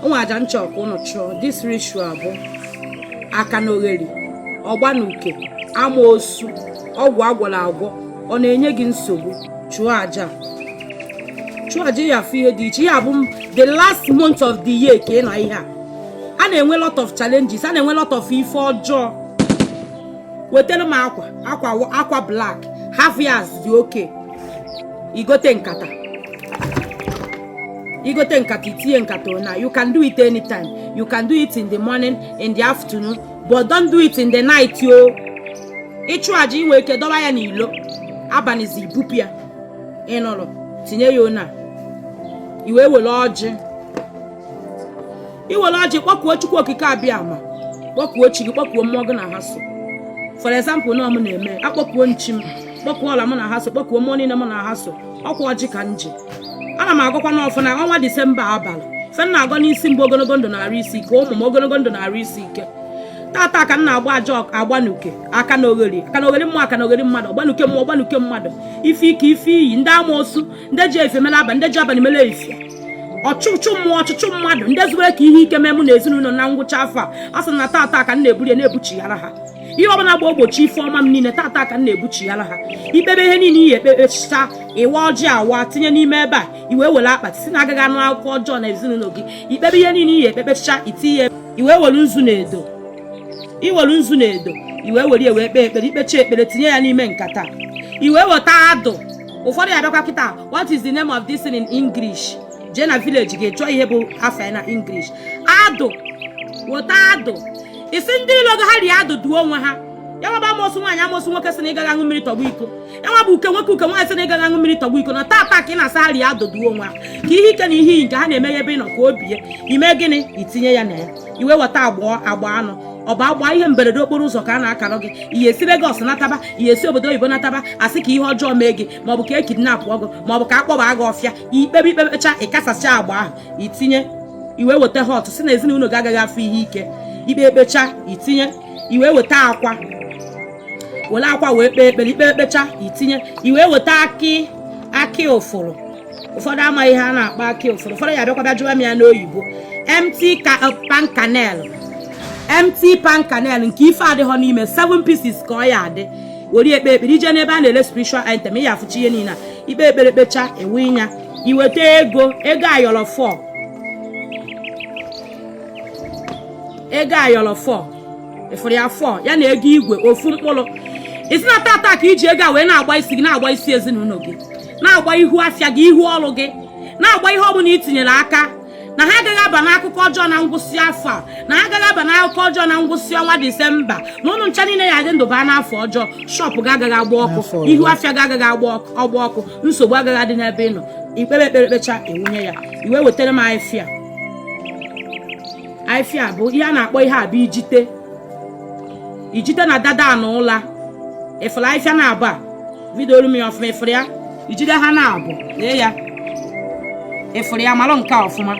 onwe aja m chọ ka ụnụ chụọ this ritual bụ aka na ogheri ọgba na uke amoosu ọgwụ agwọrọ agwọ ọ na-enye gị nsogbu chụọ aja chụọ aja ya afụ ihe dị iche ya bụ the last month of the year ka ị nọ ihe a a na-enwe lot of challenges a na-enwe lot of ife ọjọọ wetara m akwa akwa akwa black half yards dị okay igote nkata igote nkata itinye nkata na you can do it anytime you can do it in the morning in the afternoon but don't do it in the night o ịchụ aja inwe ike dọba ya n'ilo abanizi ibupụ ya ịnụrụ tinye ya ona iwe were ọjị iwere ọjị kpọkuo chukwu okike abịama kpọkuo chi gị kpọkuo mmụọ gị na ha so for example na ọ mụ na-eme akpọkuo m chi m kpọkuo ọla mụ na ha so kpọkuo mmụọ niile mụ na ha so ọkwa ọjị ka m ji ana m agọkwanụ ọfọ na ọnwa disemba abalị ife m na-agọ n'isi m bụ ogologo ndụ na arụ isi ike ụmụ m ogologo ndụ na arụ isi ike tata ka m na-agba aja ọgba na uke aka na ogheri aka na ogheri mmụọ aka na ogheri mmadụ ọgba na uke mmụọ ọgba na uke mmadụ ife ike ife iyi ndị amoosu ndị ji efe mere abalị ndị ji abalị mere efe ọchụchụ mmụọ ọchụchụ mmadụ ndị zubere ka ihe ike mee mụ na ezinụlọ na ngwụcha afọ a a sị na tata ka m na-eburu ya na-ebuchighara ha ihe ọbụla ga-egbochi ife ọma m niile tata ka m na-ebuchighara ha ikpebe ihe niile ị ya ekpe kpechịcha ịwa ọjị awa tinye n'ime ebe a iwe were akpati sị na agaghị anụ akụkọ ọjọọ na ezinụlọ gị ikpebe ihe niile ị ya ekpe kpechịcha itinye iwe were nzu na edo iwere nzu na edo iwe were ya wee kpee ekpere ikpecha ekpere tinye ya n'ime nkata iwe weta adụ ụfọdụ ya bịakwa kịta what is the name of this in English jee na village gaa chọọ ihe bụ afa na English adụ weta adụ ịsị ndị ilo gị ha rie adụ duo onwe ha ya nwaba amosu nwaanyị amosu nwoke sị na ịgaghị aṅụ mmiri tọgbọ iko ya nwaba uke nwoke uke nwaanyị sị na ịgaghị aṅụ mmiri tọgbọ iko na tata ka ị na-asị ha rie adụ duo onwe ha ka ihe ike na ihe iyi nke ha na-eme ya ebe ị nọ ka o bie ime gịnị itinye ya na ya iwe weta agba agba anụ ọ bụ agba ihe mberede okporo ụzọ ka a na-akara gị ị ya esi Lagos nataba ị ya esi obodo oyibo nataba asị ka ihe ọjọọ mee gị maọbụ ka e kidnapụọ gị maọbụ ka a kpọba gị ọfịa ikpebe ikpebecha ịkasasịa agba ahụ itinye iwe weta hot sị na ezinụlọ gị agaghị afụ ihe ike ikpe ekpecha itinye iwe weta akwa were akwa wee kpee ekpere ikpe ekpecha itinye iwe weta akị akị ụfụrụ ụfọdụ amaghị ihe a na-akpọ akị ụfụrụ ụfọdụ ya bịakwa bịa jụwa m ya n'oyibo empty uh, palm kernel empty palm kernel nke ife adịghọ n'ime 7 pieces ka ọ ya adị were ekpe ekpere ije n'ebe a na-ele spiritual item ị ya afụcha ihe niile a ikpe ekpere kpecha ewe ịnya iweta ego ego ayọrọ 4 ego ayọrọ 4 ịfụrụ ya 4 ya na ego igwe ofu mkpụrụ ịsị na tata ka iji ego a wee na-agba isi gị na-agba isi ezinụlọ gị na-agba ihu afịa gị ihu ọrụ gị na-agba ihe ọ bụla itinyere aka na ha agaghị aba n'akụkọ ọjọọ na ngwụsị afọ a na ha agaghị aba n'akụkọ ọjọọ na ngwụsị ọnwa disemba na ụnụ ncha niile ya adị ndụ baa n'afọ ọfụọ shọpụ gị agaghị agba ọkụ ihu afịa gị agaghị agba ọkụ nsogbu agaghị adị n'ebe ị nọ i kpee ekpere kpecha ewunye ya i wee wetara m afịfịa a bụ ihe a na-akpọ ihe a bụ ijite ijite na dada na ụla ị fụrụ afịfịa na-abụ a vidiooro m ya ọfụma ị fụrụ ya ijite a na-abụ lee ya ị fụrụ ya malụ nke ọfụma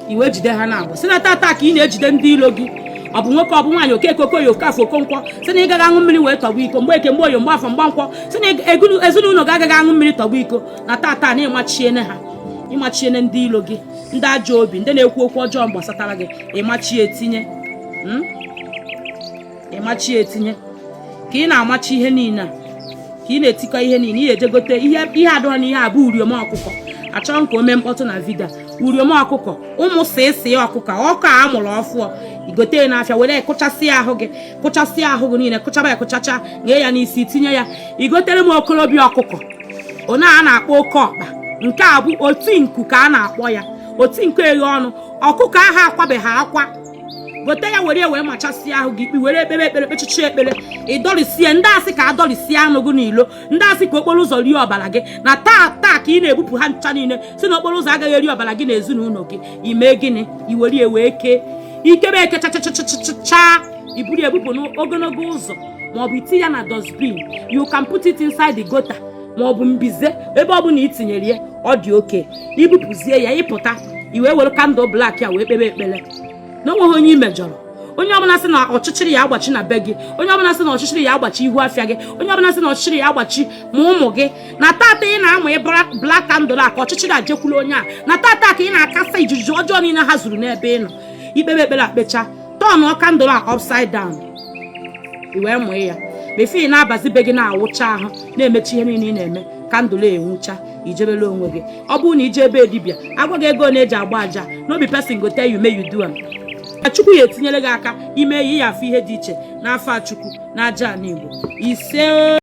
i wee ijite a na-abụ sị na tata ka ị na-ejide ndị ilo gị ọ bụ nwoke ọ bụ nwaanyị okeke okoye okafọ okonkwọ sị na ị gaghị aṅụ mmiri wee tọgbọ iko mgbeke mgboye mgbafọ mgbenkwọ sị na ezinụlọ gị agaghị aṅụ mmiri tọgbọ iko na tata na ị machiene ha ị machiene ndị ilo gị ndị ajọ obi ndị na-ekwu okwu ọjọọ gbasatara gị ị machie tinye hmm? ị machie tinye ka ị na-amachi ihe niile ka ị na-etikọ ihe niile i jee gote ihe ihe adọrọ na ihe a bụ uriom ọkụkọ achọghị m ka o mee mkpọtụ na vidio uriom ọkụkọ ụmụ sịsị ọkụkọ ọkụ a mụrụ ọfụọ i gote ya n'afịa were kụchasịa ahụ gị kụchasịa ahụ gị niile kụchaba ya kụchacha nye ya n'isi tinye ya i gotere m okorobịa ọkụkọ onye a na-akpọ oke ọkpa nke a bụ oti nku ka a na-akpọ ya oti nku eghe ọnụ ọkụkọ ahụ akwabeghị akwa gote ya were wee machasịa ahụ gị were kpee ekpere kpechacha ekpere ị dọrisie ndị sị ka a dọrisie anụ gị n'ilo ndị sị ka okporo ụzọ rie ọbara gị na tata ka ị na-ebupụ ha ncha niile sị na okporo ụzọ agaghị eri ọbara gị na ezinụlọ gị i mee gịnị i were ya wee kee i kebe ya kechachachachachaa i buru ya bupụ n'ogologo ụzọ ma ọ bụ i tii ya na dustbin you can put it inside the gutter ma ọ bụ mbize ebe ọ bụla i tinyere ya ọ dị okay i bupụzie ya ị pụta i wee were kandụl blak ya wee kpebe ekpere na o nweghị onye i mejọrọ onye ọbụla sị na ọchịchịrị ya agbachi na be gị onye ọbụla sị na ọchịchịrị ya agbachi ihu afịa gị onye ọbụla sị na ọchịchịrị ya agbachi ma ụmụ gị na tata ị na-amụ blak kandụl a ka ọchịchịrị a jekwulu onye a na tata ka ị na-akasa izuzu ọjọọ niile ha zuru n'ebe ị nọ i kpebe ekpere a kpecha tọnụọ kandụl a upside down i wee mụọ ya bifọ ị na-abazi be gị na-awụcha ahụ na-emechi ihe niile ị na-eme kandụl enwucha i jebele onwe gị ọ bụrụ na i jee be dibịa a gwa gị ego na-eji agba aja no be pesin go tell you make you do am chukwu ya etinyere gị aka i mee ya ị ya-afụ ihe dị iche n'afa chukwu na aja ala igbo isee